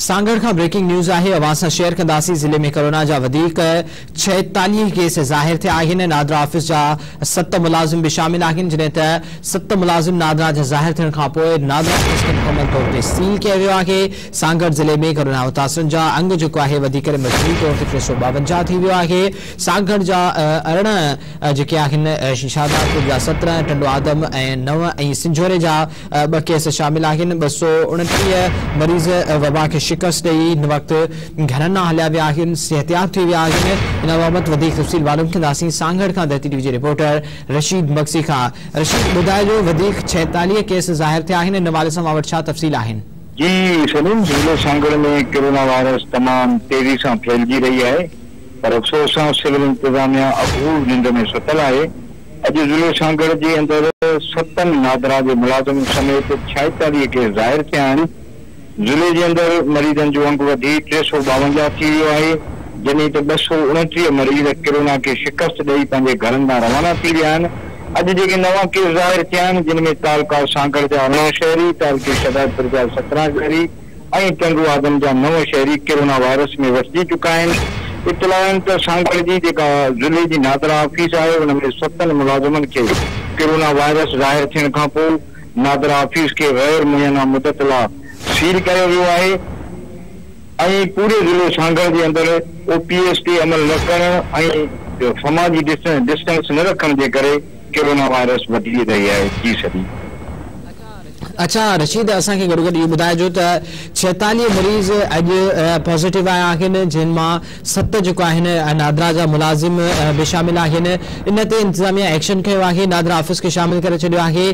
سانگهڙ کان breaking news آهي اوهان سان شيئر ڪنداسين ضلعي ۾ ڪورونا جا وڌيڪ ڇائيتاليهه ڪيس ظاهر ٿيا آهن نادرا آفيس جا ست ملازم به شامل آهن جڏهن ته ست ملازم نادرا جا ظاهر ٿيڻ کان پوء نادرا آفيس کي مڪمل طور تي سيل ڪيو ويو آهي سانگهڙ ضلعي ۾ ڪورونا متاثرن جا انگ جيڪو آهي وڌي ڪري مجموعي طور تي ٽي سؤ ٻاونجاهه ٿي ويو آهي سانگهڙ جا ارڙهن جيڪي آهن شهدادپور جا سترهن ٽنڊو آدم ۽ نو ۽ سنجهوري جا ٻه ڪيس شامل آهن، ٻه سؤ اڻٽيهه مريض وبا کي شڪست ڏئي هن وقت گهرن ڏانهن هليا ويا آهن، صحتياب ٿي ويا آهن، ان بابت وڌيڪ تفصيل معلوم ڪنداسين، سانگهڙ کان ڌرتي ٽي وي جي رپورٽر رشيد مگسي کان، رشيد ٻڌائجو وڌيڪ ڇهيتاليهه ڪيس ظاهر ٿيا آهن، ان حوالي سان اوهان وٽ ڇا تفصيل آهن؟ جي سليم ضلعي سانگهڙ ۾ ڪرونا وائرس تمام تيزي سان ڦهلجي رهي آهي پر افسوس سان سول انتظاميا اگهور ننڊ ۾ ستل آهي، اڄ ضلعي سانگهڙ جي اندر ستن نادرا جي ملازمن سميت ڇائيتاليهه ڪيس ظاهر ٿيا آهن، ضلعي جي اندر مريضن جو انگ وڌي ٽي سؤ ٻاونجاهه ٿي ويو آهي، جڏهن ته ٻه سؤ اڻٽيهه مريض ڪرونا کي شڪست ڏئي پنهنجي گهرن ڏانهن روانا ٿي ويا آهن، اڄ جيڪي نوان ڪيس ظاهر ٿيا آهن جن ۾ تعلقه سانگهڙ جا ارڙهن شهري، تعلقي شهدادپور جا سترهن شهري، ۽ ٽنڊو آدم جا نو شهري ڪرونا وائرس ۾ وٺجي چڪا آهن. اطلاع آهن ته سانگهڙ جي جيڪا ضلعي جي نادرا آفيس آهي ان ۾ ستن ملازمن کي ڪرونا وائرس ظاهر ٿيڻ کانپوء نادرا آفيس کي غير معينه مدت لا سيل ڪيو ويو آهي ۽ پوري ضلعي سانگهڙ جي اندر او پي ايس تي عمل نه ڪرڻ ۽ سماجي ڊسٽنس نه رکڻ جي ڪري ڪرونا وائرس وڌي رهي آهي. جي سڏي. اڇا رشيد اسان کي گڏوگڏ اهو ٻڌائجو ته ڇيتاليهه مريض اڄ پازيٽو آيا آهن جن مان ست جيڪو آهن نادرا جا ملازم به شامل آهن ان تي انتظاميا ايڪشن کنيو آهي نادرا آفيس کي شامل ڪري ڇڏيو آهي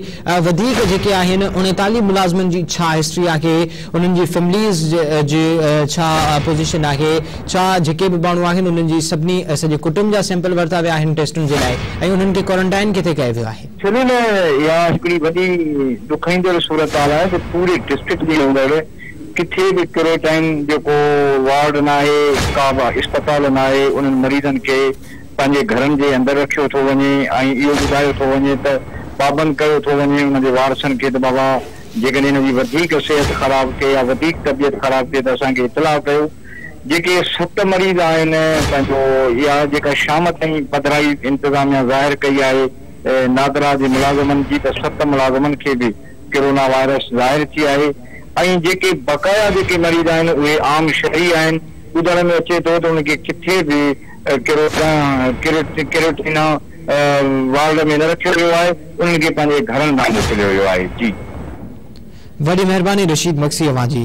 وڌيڪ جيڪي آهن اڻيتاليهه ملازمن جي ڇا هسٽري آهي انهن جي فيمليز جي ڇا پوزيشن آهي ڇا جيڪي به ماڻهو آهن انهن جي سڀني سڄي ڪٽنب جا سيمپل ورتا ويا آهن ٽيسٽن جي لاء ۽ انهن کي ڪوارنٽائن ڪٿي ڪيو ويو آهي سنڌ ۾ اها هڪڙي وڏي ڏکائيندڙ صورتحال آهي ته پوري ڊسٽرڪٽ جي اندر ڪٿي به ڪيروٽائن جو ڪو وارڊ ناهي، ڪا به اسپتال ناهي، انهن مريضن کي پنهنجي گهرن جي اندر رکيو ٿو وڃي ۽ اهو ٻڌايو ٿو وڃي ته پابند ڪيو ٿو وڃي انهن جي وارثن کي ته بابا جيڪڏهن هن جي وڌيڪ صحت خراب ٿئي يا وڌيڪ طبيعت خراب ٿئي ته اسان کي اطلاع ڪيو. جيڪي ست مريض آهن پنهنجو اها جيڪا شام تائين پڌرائي انتظاميا ظاهر ڪئي آهي، نادرا جي ملازمن جي ته ست ملازمن کي به ڪرونا وائرس ظاهر ٿي آهي ۽ جيڪي بقايا جيڪي مريض آهن اهي عام شهري آهن ٻڌڻ ۾ اچي ٿو ته انهن کي ڪٿي به ڪرونا ڪيروٽينا وارڊ ۾ نه رکيو ويو آهي انهن کي پنهنجي گهرن ڏانهن موڪليو ويو آهي جي. وڏي مهرباني رشيد مگسي اوهان جي.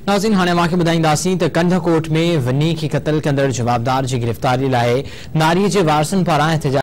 ناظرين هاڻي اوهان کي ٻڌائينداسين ته ڪنڌڪوٽ ۾ وني کي قتل ڪندڙ جوابدار جي گرفتاري لاء ناري جي وارثن پاران احتجاج